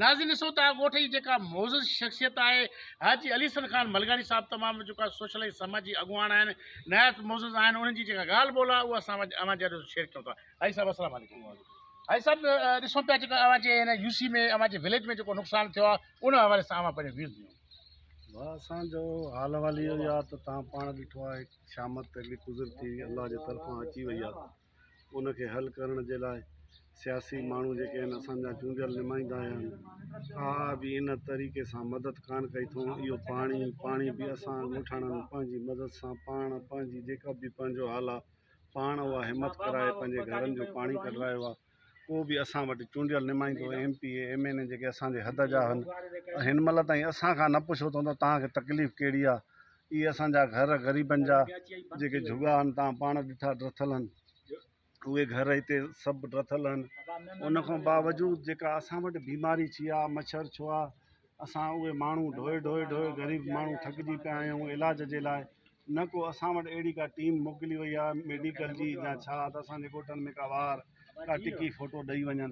ناظرين ڏسو ته آ ڳوٺ جي جيڪا معزز شخصيت آهي حاجي علي حسن خان ملگاڻي صاحب تمام جيڪا سوشل ۽ سماجي اڳواڻ آهن نهايت معزز آهن انهن جي جيڪا ڳالهه ٻولهه آهي اهو اسان اوهان جي آڏو شيئر ڪيون ٿا حاجي صاحب السلام عليڪم حاجي صاحب ڏسون پيا جيڪا اوهان جي هن يو سي ۾ اوهان جي وليج ۾ جيڪو نقصان ٿيو آهي ان حوالي سان اوهان پنهنجو ويوز ڏيون واهه اسان جو حال احوال اهو آهي ته تهان پاڻ ڏٺو آهي شامت اهڙي قدرتي الله جي طرفان اچي وئي آهي ان کي حل ڪرڻ جي لاء سياسي ماڻهو جيڪي آهن اسان جا چونڊيل نمائندا آهن آء به ان طريقي سان مدد ڪانه ڪئي اٿئون اهو پاڻي پاڻي به اسان ڳوٺاڻن پنهنجي مدد سان پاڻ پنهنجي جيڪا به پنهنجو حال آهي پاڻ اها همت ڪرائي پنهنجي گهرن جو پاڻي ڪڍرايو آهي ڪو به اسان وٽ چونڊيل نمائندو M P A M N A جيڪي اسانجي حد جا آهن هن مهل تائين اسان کان نه پڇو اٿئون ته تهانکي تڪليف ڪهڙي آهي اهي اسان جا گهر غريبن جا جيڪي جهڳا هن توهان پاڻ ڏٺا ڊٿل هن اهي گهر هتي سڀ ڊٿل هن ان کان باوجود جيڪا اسان وٽ بيماري ڇي آ مڇر ڇو آ اسان اهي ماڻهو ڍوئي ڍوئي ڍوئي غريب ماڻهو ٿڪجي پيا آهيون علاج جي لاء نه ڪو اسان وٽ اهڙي ڪا ٽيم موڪلي وئي آ ميڊيڪل جي يا ڇا ته اسان جي ڳوٺن ۾ ڪا وار ڪا ٽڪي ڦوٽو ڏئي وڃن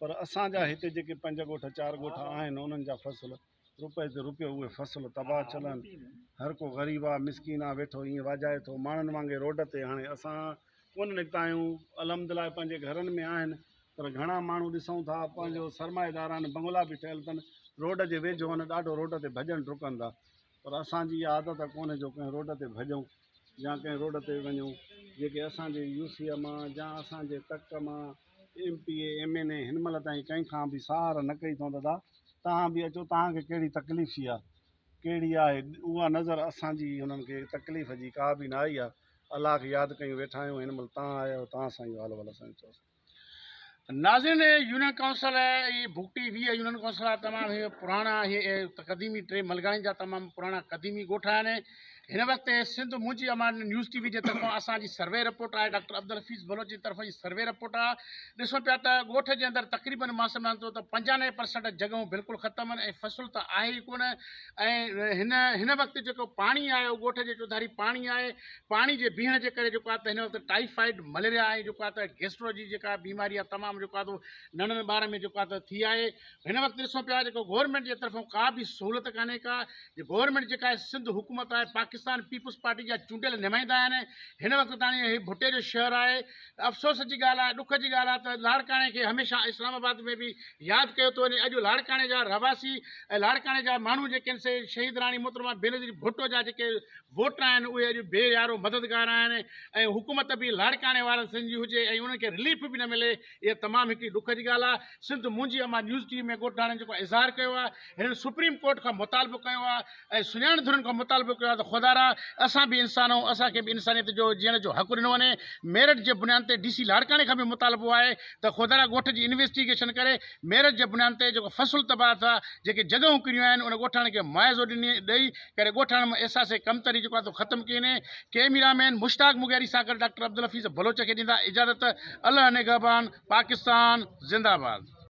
پر اسان جا هتي جيڪي پنج ڳوٺ چار ڳوٺ آهن انهن جا فصل روپئي تي روپيو اهي فصل تباهه چلن هر ڪو غريب آ مسڪين آ ويٺو ائين واجهائي ٿو ماڻهن وانگي روڊ تي هاڻي اسان ڪونه نڪتا آهيون الحمدلله پنهنجي گهرن ۾ آهن پر گهڻا ماڻهو ڏسون ٿا پنهنجو سرمائيدار آهن بنگلا به ٺهيل اٿن روڊ جي ويجهو آهن ڏاڍو روڊ تي ڀڄن ڊڪن ٿا پر اسان جي اها عادت ڪونهي جو ڪنهن روڊ تي ڀڄون يا ڪنهن روڊ تي وڃون جيڪي اسان جي يو سي ايم آ يا اسان جي تڪ مان M P A M N A هن مهل تائين ڪنهن کان به ساهر نه ڪئي اٿئون دادا توهان به اچو توهان کي ڪهڙي تڪليف ٿي آهي ڪهڙي آهي اها نظر اسان جي انهن کي تڪليف جي ڪا به نه آئي آهي الله کي ياد ڪيون ويٺا آهيون هن مهل توهان آيا آهيو توهان سان اهو حال احوال اسان جو چئوسين ناظرين هي يونين ڪائونسل هي بگٽي ويهه يونين ڪائونسل آهي تمام هي پراڻا هي قديمي ٽي ملگاڻي جا تمام پراڻا قديمي ڳوٺ آهن هن وقت Sindh Muhnji Amaan news T V جي طرفان اسان جي سروي رپورٽ آهي ڊاڪٽر عبدالحفيظ بلوچ جي طرفان جي سروي رپورٽ آهي ڏسو پيا ته ڳوٺ جي اندر تقريبن ماس سمجھان ٿو ته پنجانوي پرسنٽ جڳهون بلڪل ختم آهن ۽ فصل ته آهي ئي ڪونه ۽ هن هن وقت جيڪو پاڻي آهي اهو ڳوٺ جي چوڌاري پاڻي آهي پاڻي جي بيهڻ جي ڪري جيڪو آهي ته هن وقت ٽائيفائيڊ، مليريا ۽ جيڪو آهي ته گيسٽرو جي جيڪا بيماري آهي تمام جيڪو آهي تو ننڍڙن ٻارن ۾ جيڪو آهي ته ٿي آهي. هن وقت ڏسون پيا جيڪو گورنمينٽ جي طرفون ڪا به سهولت ڪانهي ڪا جي گورنمينٽ جيڪا آهي سنڌ حڪومت آهي پاڪستان پيپلز پارٽي جا چونڊيل نمائندا آهن هن وقت تاڻي هي ڀٽي جو شهر آهي افسوس جي ڳالهه آهي ڏک جي ڳالهه آهي ته لاڙڪاڻي کي هميشه اسلام آباد ۾ به ياد ڪيو ٿو وڃي اڄ لاڙڪاڻي جا رهواسي ۽ لاڙڪاڻي جا ماڻهو جيڪي آهن سي شهيد راڻي محترمه بينظير ڀٽو جا جيڪي ووٽ آهن اهي اڄ بي يارو مددگار آهن ۽ حڪومت به لاڙڪاڻي وارن سنڌ جي هجي ۽ انهن کي رليف به نه ملي اها تمام هڪڙي ڏک جي ڳالهه آهي Sindh Muhnji Amaan news T V ۾ ڳوٺاڻن جيڪو اظهار ڪيو آهي هنن سپريم ڪورٽ کان مطالبو ڪيو آهي ۽ سڃاڻ ڌرين کان مطالبو ڪيو آهي ته خدارا اسان به انسان آهيون اسان کي به انسانيت جو جيئڻ جو حق ڏنو وڃي ميرٽ جي بنيان تي ڊي سي لاڙڪاڻي کان به مطالبو آهي ته خدارا ڳوٺ جي انويسٽيگيشن ڪري ميرٽ جي بنيان تي جيڪو فصل تباهه ٿيو آهي، جيڪي جڳهون ڪريون آهن ان ڳوٺاڻن کي معاوضو ڏئي ڪري ڳوٺاڻن مان احساس ڪمتري جيڪو آهي سو ختم ڪئي وڃي، ڪيميرا مين مشتاق مغيري سان گڏ ڊاڪٽر عبدالحفيظ بلوچ کي ڏيندا اجازت، الله نگهبان پاڪستان زنده باد.